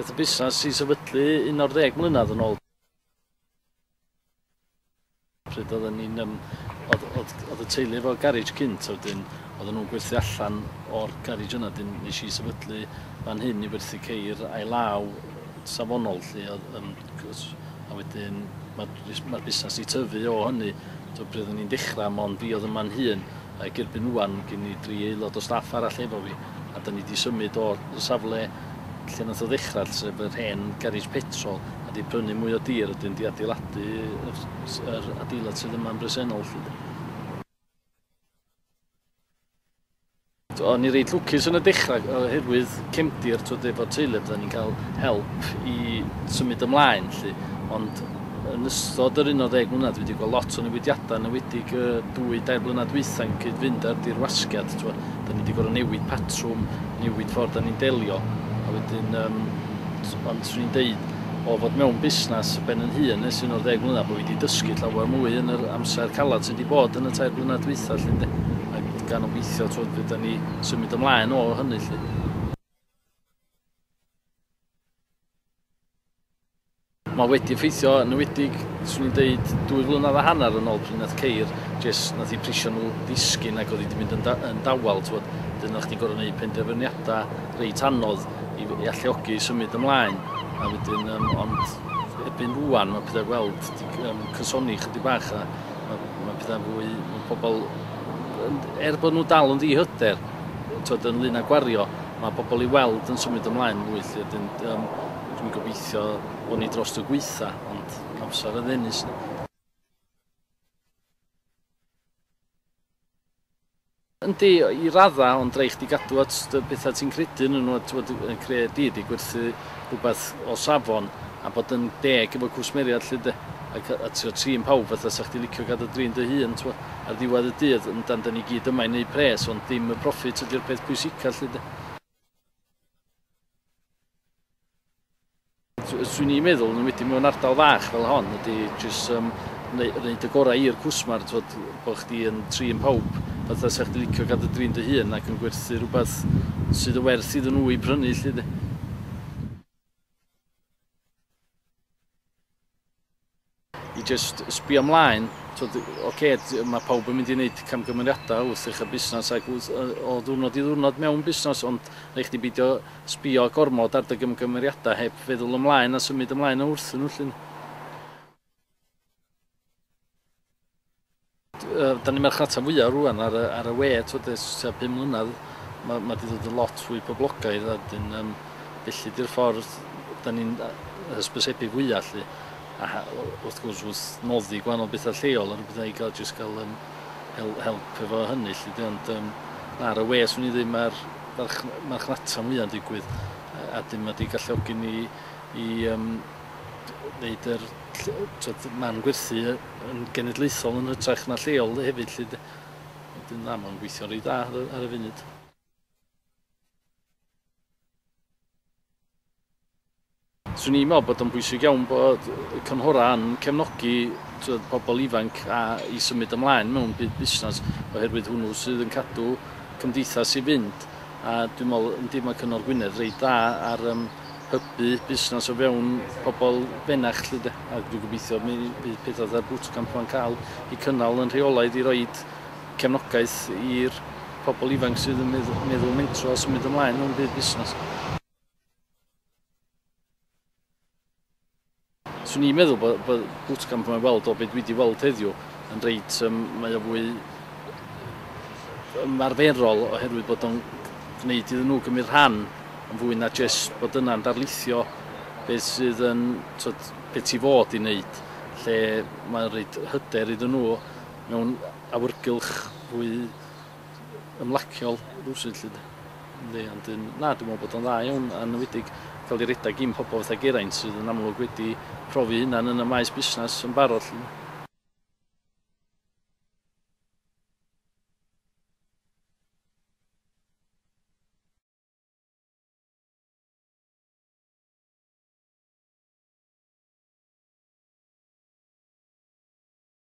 Daeth y busnes i sefydlu un o'r ddeg mlynedd yn ôl. pryd oedden ni'n um, oedd, oedd, oedd y teulu efo garage cynt, wedyn oedden nhw'n gwerthu allan o'r garage yna, dyn nes i sefydlu fan hyn i werthu ceir a'i law safonol lle, oedd, um, a wedyn mae'r ma busnes i tyfu o hynny, so pryd oedden ni'n dechrau, mond fi oedd yma'n hun, Ac erbyn ŵan ma' gen i dri aelod o staff arall efo fi, a 'dan ni 'di symud o'r safle lle nath o ddechra, sef yr hen garej petrol, a 'di prynu mwy o dir a 'dyn 'di adeiladu yr s- yr adeilad sydd yma'n bresennol 'lly 'de. T'wo' o'n i reit lwcus yn y dechra yy oherwydd cefndir t'wod efo'r teulu a byddan ni'n ca'l help i symud ymlaen 'lly, ond Yn ystod yr 11 mlynedd dwi 'di gweld lot o newidiadau yn enwedig y dwy dair blynedd dwytha yn cyd-fynd â'r dirwasgiad t'wod 'da ni 'di gor'o' newid patrwm newid ffordd 'da ni'n delio a wedyn yym ond swn i'n deud o fod mewn busnas ben yn hun ers un o'r ddeg mlynedd bo' fi 'di dysgu llawer mwy yn yr amser calad sydd 'di bod yn y tair blynedd dwytha 'lly ynde? Ac gan obeithio t'wod fy' 'da ni symud ymlaen o hynny 'lly. Mae wedi effeithio yn ywedig, swn i'n deud, dwy flynedd a hanner yn ôl pryd nath ceir, jes nath i prisio nhw ddisgyn ac oedd wedi mynd yn, da, yn dawel, twod, dyn o'ch ti'n gorau gwneud penderfyniadau reit anodd i, i alluogi symud ymlaen, a wedyn, um, ond erbyn rwan mae pethau weld di, um, cysoni chydig bach a mae, mae pethau fwy, mae pobl, er bod nhw dal yn ddihyder, twod, yn lun a gwario, Mae pobl i weld yn symud ymlaen mwy lly, wedyn um, dwi'n gobeithio bod ni dros y gweitha, ond amser y ddennus ni. Yndi, i radda, ond rhaid chdi gadw at y bethau ti'n credu yn nhw, a yn creu di, di gwerthu rhywbeth o safon, a bod yn deg efo cwsmeriad lle de, a, a trio trin pawb fatha sa chdi licio gadw drin dy hun, twa. ar ddiwedd y dydd, yndan, 'da ni gyd yma i wneud pres, ond dim y proffit ydy'r peth pwysica 'lly 'de. swn i'n meddwl, yn wedi mewn ardal fach fel hon, ydy jyst um, wneud y gorau i'r cwsmar, twod, bod chdi yn trin pawb, fatha sa'ch di licio gadw drin dy hun ac yn gwerthu rhywbeth sydd y werth iddyn nhw i prynu, lle di. i jyst sbio mlaen, twod, ocê, mae pawb yn mynd i wneud camgymeriadau wrth ddechrau busnes ac wrth, o ddwrnod i ddwrnod mewn busnes, ond rhaid chdi beidio sbio gormod ar dy gymgymeriadau heb feddwl ymlaen a symud ymlaen wrthyn nhw 'lly. Dan ni'n marchnata fwyaf rwan ar y, ar y we, twyd, ers tua pum mlynedd, mae, mae di ddod yn lot fwy poblogaidd, a dyn, um, felly di'r ffordd, dan ni'n hysbysebu fwyaf lli, a wrth gwrs wrth noddi gwahanol bethau lleol, ar y bethau i gael jyst gael um, hel, help efo hynny lli, di, ond um, na, ar y we, swn i ddim, mae'r marchnata fwyaf yn digwydd, a dyn mae di galluogi ni i um, wneud yr twed, man gwerthu yn genedlaethol yn hytrach na lleol hefyd lly. Wedyn na, mae'n gweithio rei da ar y funud. Swn i'n meddwl bod o'n bwysig iawn bod y cynghorau yn cefnogi twed, pobl ifanc a i symud ymlaen mewn byd busnes oherwydd hwnnw sydd yn cadw cymdeithas i fynd a dwi'n meddwl yndi mae Cyngor Gwynedd reit dda ar um, hybu busnas o fewn pobl benach 'lly 'de. A dwi'n gobeithio mi fydd peth fatha'r bootcamp 'ma'n cael ei cynnal yn rheolaidd i roid cefnogaeth i'r pobl ifanc sydd yn meddwl meddwl mentro a symud ymlaen mewn byd busnas. Swn i'n meddwl bod, bod bootcamp yma weld o beth dwi wedi weld heddiw yn reit, um, mae o fwy ymarferol oherwydd bod o'n gwneud iddyn nhw gymryd rhan yn fwy na jyst bod yna'n darlithio beth sydd yn twyd, beth ti fod i wneud lle mae'n rhaid hyder iddyn nhw mewn awyrgylch fwy ymlaciol rywsut 'lly 'de. Yndi ond yn na dwi'n meddwl bod o'n dda iawn a enwedig cael ei redeg gin pobl fatha Geraint sydd yn amlwg wedi profi hunan yn y maes busnes yn barod 'lly 'de.